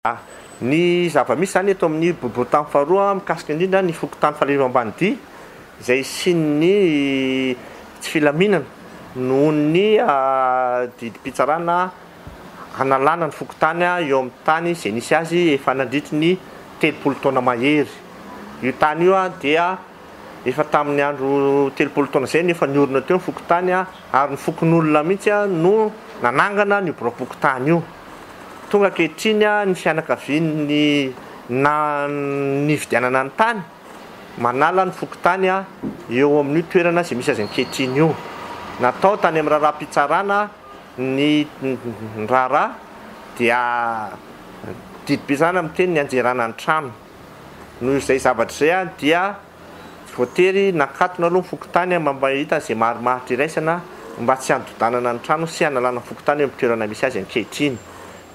A, Ny zava-misy izany eto amin'ny bobotany faharoa mikasika indrindra ny fokontany Faliarivo Ambanidia izay hisian'ny tsy filaminana noho ny didim-pitsarana hanalana ny fokontany eo amin'ny tany izay nisy azy efa nandritry ny telopolo taona mahery. Io tany io dia. Efa tamin'ny andro telopolo taona izay no efa niorina teo ny fokontany ary ny fokonolona mihitsy no nanangana an'io biraom-pokontany io. Tonga ankehitriny ny fianakavian'ny nividianana ny tany manala ny fokontany eo amin'io toerana izay misy azy ankehitriny io. Natao tany amin'ny raharaham-pitsarana ny raharaha dia didim-pitsarana miteny ny hanjerana ny trano. Noho izay zavatra izay aho dia voatery nakatona aloha ny fokontany mba mba hahita izay marimaritra iraisana mba tsy hanododanana ny trano sy hanalana ny fokontany eo amin'ny toerana misy azy ankehitriny.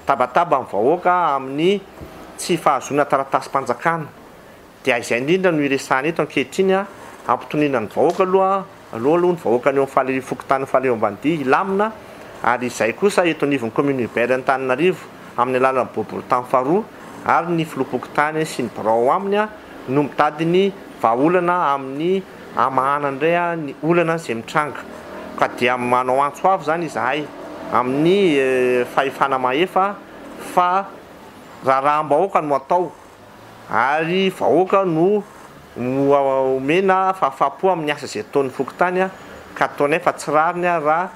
Tabataba ny vahoaka amin'ny tsy fahazoana taratasim-panjakana. Dia izay indrindra no iresahana eto ankehitriny, hampitoniana ny vahoaka aloha. Aleo aloha ny vahoaka any amin'ny fokontany Faleha Ambanidia hilamina ary izay kosa eto anivon'ny Commune Urbaire Antananarivo amin'ny alalan'ny boribory tany faharoa ary ny Filoham-pokontany sy ny birao ao aminy no mitady ny vahaolana amin'ny hamahana indray ny olana izay mitranga ka dia manao antso avo izany izahay amin'ny fahefana mahefa fa raharaham-bahoaka no atao ary vahoaka no omena fahafahampo amin'ny asa izay ataon'ny fokontany ka ataonay fa tsy rariny raha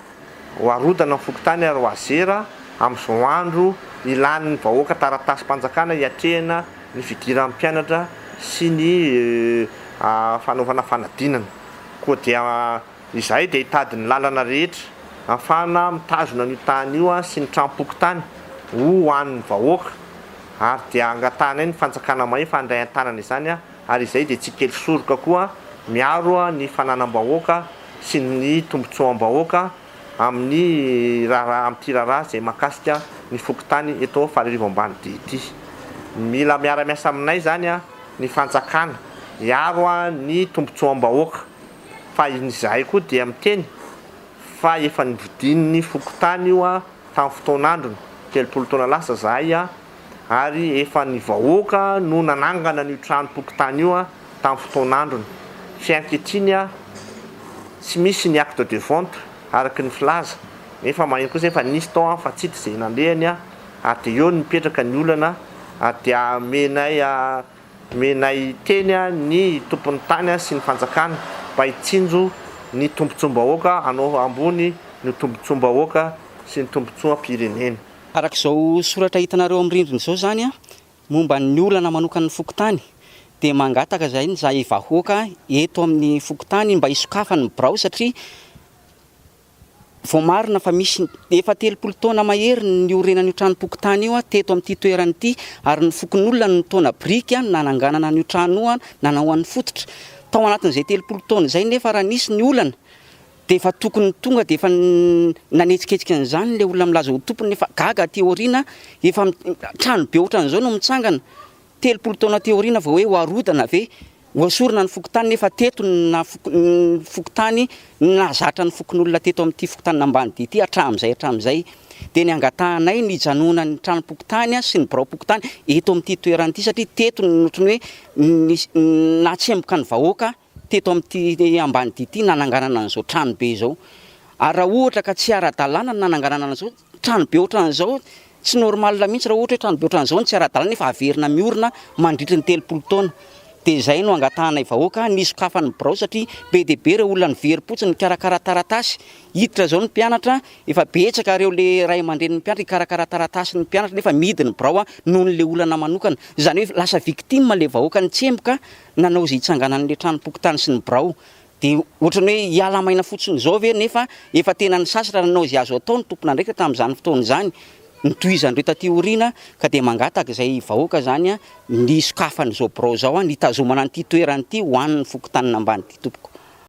hoarodana ny fokontany ary hoazera amin'izao andro ilan'ny vahoaka taratasim-panjakana hiatrehana ny fidiran'ny mpianatra sy ny fanaovana fanadinana koa dia Izahay dia hitady ny lalana rehetra ahafahana mitazona an'io tany io sy ny tranom-pokontany ho an'ny vahoaka ary dia angatahanay ny fanjakana mahefa handray an-tanana izany ary izay dia tsy kely soroka koa miaro ny fananam-bahoaka sy ny tombotsoam-bahoaka amin'ny raharaha amin'ity raharaha izay mahakasika ny fokontany eto Fararivo Ambanidia ity. Mila miara-miasa aminay izany ny fanjakana hiaro ny tombotsoam-bahoaka. fa izahay koa dia miteny fa efa nividian'ny fokontany io tamin'ny fotoan'androny, telopolo taona lasa izahay ary efa ny vahoaka no nanangana an'io tranom-pokontany io tamin'ny fotoan'androny, fe ankehitriny tsy misy ny acte de vente araka ny filaza, nefa maheno kosa efa nisy tao fa tsy hita izay nalehany ary dia eo no mipetraka ny olana ary dia amenay Menay hiteny ny tompon'ny tany sy ny fanjakana mba hitsinjo ny tombontsoam-bahoaka hanao ambony ny tombontsoam-bahoaka sy ny tombontsoam-pirenena. Araka izao soratra hitanareo amin'ny rindrina izao izany momba ny olana manokan'ny fokontany dia mangataka izay ny zahay vahoaka eto amin'ny fokontany mba hisokafany ny birao satria Voamarina fa misy efa telopolo taona mahery ny niorenan'io tranom-pokontany io teto amin'ity toerana ity ary ny fokonolona no nitaona biriky nananganana an'io trano io nanaoany fototra. Tao anatin'izay telopolo taona izay nefa raha nisy ny olana dia efa tokony tonga dia efa nanetsiketsika an'izany ilay olona milaza ho tompony nefa gaga aty aoriana efa trano be ohatran'izao no mitsangana. Telopolo taona teo aoriana vao hoe ho arodana ve, ho esorina ny fokontany nefa teto ny naha foko ny fokontany ny nahazatra ny fokonolona teto amin'ity fokontanin'Ambanidia ity hatramin'izay hatramin'izay dia ny angatahanay ny hijanonan'ny tranom-pokontany sy ny biraom-pokontany eto amin'ity toerana ity satria teto ny ohatran'ny hoe nisy ny nahatsemboka ny vahoaka teto amin'ity ambanidia ity nananganana an'izao tranobe izao ary raha ohatra ka tsy ara-dalàna ny nananganana an'izao tranobe ohatran'izao, tsy normal mihitsy raha ohatra hoe tranobe ohatran'izao no tsy ara-dalàna nefa haverina miorina mandritry ny telopolo taona. Dia izay no angatahanay vahoaka ny hisokafana ny birao satria be dia be ireo olona niverimpotsiny nikarakara taratasy, hiditra izao ny mpianatra, efa betsaka ireo le ray aman-drenin'ny mpianatra hikarakara taratasin'ny mpianatra nefa mihidy ny birao nohon'ilay olana manokana, izany hoe lasa victime ilay vahoaka nitsemboka Nanao izay hitsanganan'ilay tranom-pokontany sy ny birao. Dia ohatran'ny hoe hiala maina fotsiny izao ve nefa efa tena nisasatra nanao izay azo atao ny tompon'andraikitra tamin'izany fotoana izany. Notohizan'ireo taty aoriana ka dia mangataka izay vahoaka izany ny hisokafan'izao birao izao, ny hitazomana an'ity toerana ity ho an'ny fokontanin'Ambanidia tompoko.